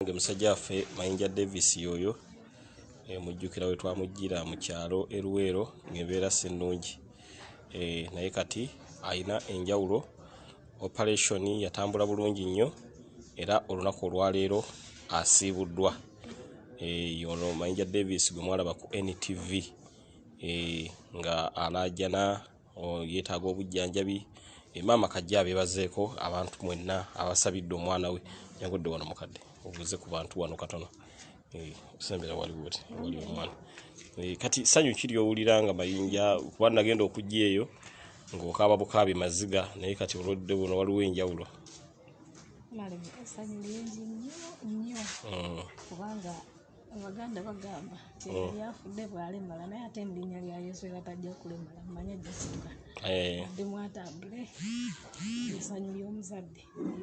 banange musajja waffe mayinja davis yoyo eh, mujjukira we twamujjira mu kyalo eruweero ngaembeera si nnungi eh, naye kati alina enjawulo operation yatambula bulungi nnyo era olunaku olwaleero asiibuddwa eh, ono mayinja davis gwe mwalaba ku ntv nga alaajana yetaaga obujjanjabi eh, maama kajja abebazeeko abantu mwenna abasabidde omwana we nyagodde wano mukadde obuuze ku bantu wano katono eh, osembera waliwo ti wali omwana eh, kati sanyu kiri owulira nga mayinja kuba nagenda okujja eyo ngaokaaba bukaabi maziga naye kati olwodde buno waliwo enjawulo mm. kubanga abaganda bagamba nti oh. yali afudde bwalemala naye ate mu linnya lya yesu era tajja kulemala mumanye jasuka eh. adde mwatambule esanyu ly'omuzadde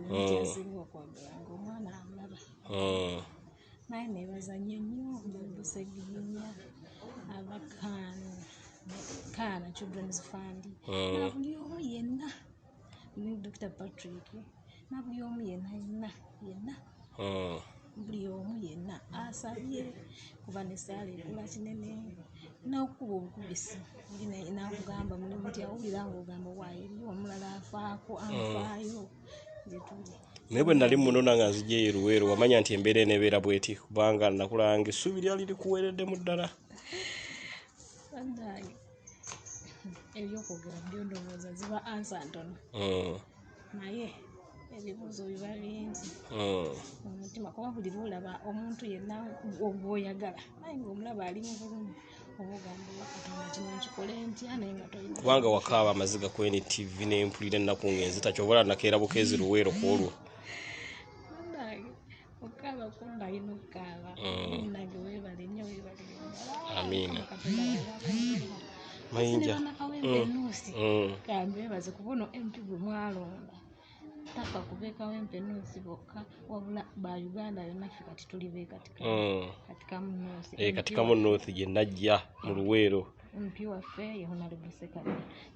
yonityasinga oh. okwagala nga omwana amulaba oh. naye nebazanye nnyo babuseginya abakaana kaana children's fund buli omu yenna ne dr patrick nabuli omu yena yena yena hmm. buli omu yena asabye kuba nesaala ekula kinene nokukuba obukubisi nakugamba mulimu nti awulira nga ogamba wayo eriyo omulala afaako hmm. anfaayo gyetuli naye bwe nali muno nanga nzija eyo luweero wamanya nti embeera enebeera bweti kubanga nakulanga essuubi lyali likuweereddemu ddala ebyokwogera byo ndowooza ziba ansa ntono mm. naye ebibuuzo biba bingi mm. omutima kuba buli lwolaba omuntu yenna ogwoyagala naye ngaomulaba ali mu bulumi kubanga wakaaba amaziga ku ntv nempulira ennaku ngenzi takyobola nakeera bukeezi luweero ku olwo Okaba kumba ino kaba. Mm. Nage webale nyo webale. Amina. Mayinja. Mm. Mm. Kambe baze kubono MP gwe mwalonda. Taka kubeka wempe nusi boka wabula ba Uganda yona fika tituli be katika. Mm. Katika munosi. Eh katika munosi je najja mu luwero. Mpi wa fe ye hona libuseka.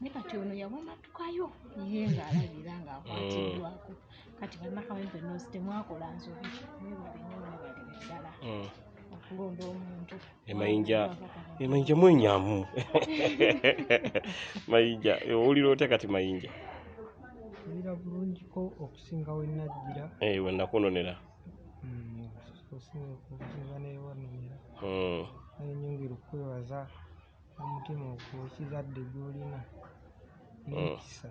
Nika chono ya wona tukayo. Yenga alabira nga akwati mm. dwako. kati banakawempe nosi temwakola nsobi mwebale nyo mwebale ddala mm. okulonda omuntu emayinja emayinja mwenyamu mayinja owulira otya kati mayinja owulira bulungiko okusinga wenajjira eh, wenakunonera mm, okusinga okusinga newanonera mm. naye nyongera okukwebaza omutima okukiza dde gyolina nekisa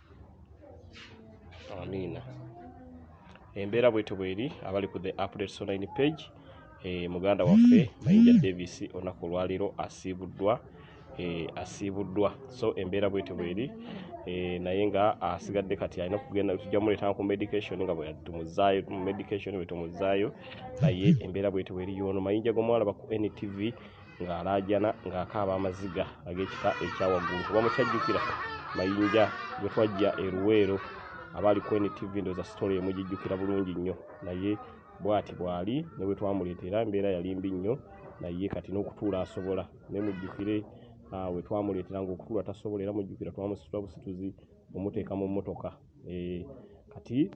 amiina embeera bwetyo bweri abali ku the updates online page e, muganda waffe mayinja davis olunaku olwaleero asiibuddwa e, asiibuddwa so embeera bwetyo bweri e, naye nga asigadde kati alina okugenda tujja muleetanga ku medication nga bwetumuzaayo mu medication bwetumuzaayo naye embeera bwetyo bweri yoono mayinja gomwalaba ku ntv ng'alaajana ng'akaaba amaziga ag'ekika ekya waggulu oba mukyajjukira mayinja gwe twajja e luweero abaali ku ntv ndooza sitole emugijjukira bulungi nnyo naye bwati bwali ne bwe twamuleetera embeera yali mbi nnyo naye kati n'okutuula asobola ne mujjukire ah, we twamuleetera ng'okutuula tasobola era mujjukira twamusitula busituzi omuteeka mu mmotoka eh, kati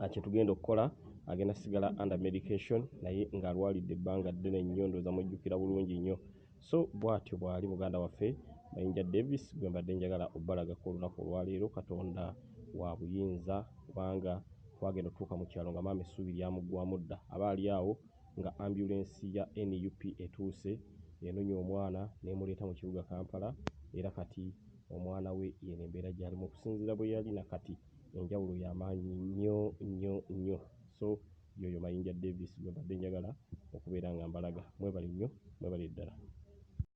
ah, kyetugenda okukola agenda sigala under medication naye ng'alwalidde ebbanga ddene nnyo ndooza mujjukira bulungi nnyo so bwatyo bwali muganda waffe mayinja davis gwe mbadde njagala obalagako olunaku olwaleero katonda wa buyinza kubanga twagenda otuuka mu kyalo nga maama essuubi lyamuggwamu dda aba ali awo nga ambulensi ya nup etuuse enonya omwana nemuleeta mu kibuga kampala era kati omwana we yeno embeera gyalimu okusinziira bwe yali nakati enjawulo ya maanyi nnyo nnyo nnyo so yoyo Mayinja Davis gwembadde njagala okubeera nga mbalaga. Mwebale nnyo, mwebale ddala.